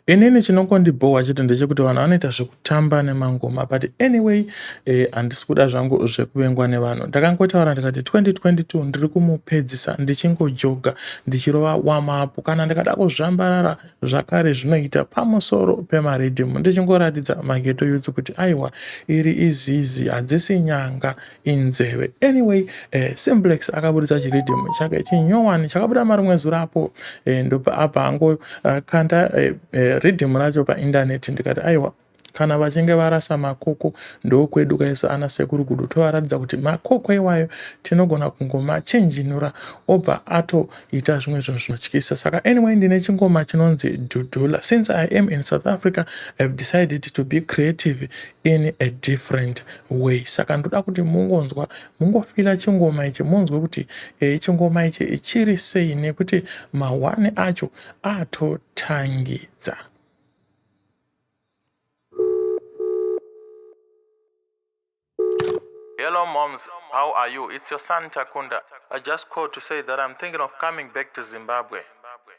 Inini chinongondibhowa chete ndechekuti vanhu vanoita zvekutamba nemangoma but anyway eh, handisi kuda zvangu zvekuvengwa nevanhu. Ndakangotaura ndikati 2022 ndiri kumupedzisa ndichingojoga ndichirova wamapu kana ndikada kuzvambarara zvakare zvinoita pamusoro pemaridhimu ndichingoratidza mageto yutsu kuti aiwa iri izizi hadzisi nyanga inzeve anyway eh, simplex akaburitsa chiridhimu chake chinyowani chakabuda marimwe zura apo eh, ndopa apa hangu eh, kanda eh, eh, ridhimu racho paindaneti ndikati aiwa kana vachinge varasa makoko ndokwedu kaisa ana sekuru gudu tovaratidza kuti makoko iwayo tinogona kungomachinjinura obva atoita zvimwe zvinhu zvinotyisa saka anyway ndine chingoma chinonzi dudula since i am in south africa ihave decided to be creative in a different way saka ndoda kuti mungonzwa mungofila chingoma ichi munzwe kuti e, chingoma ichi chiri sei nekuti mahwani acho atotangidza Hello, moms. How are you? It's your son Takunda. I just called to say that I'm thinking of coming back to Zimbabwe.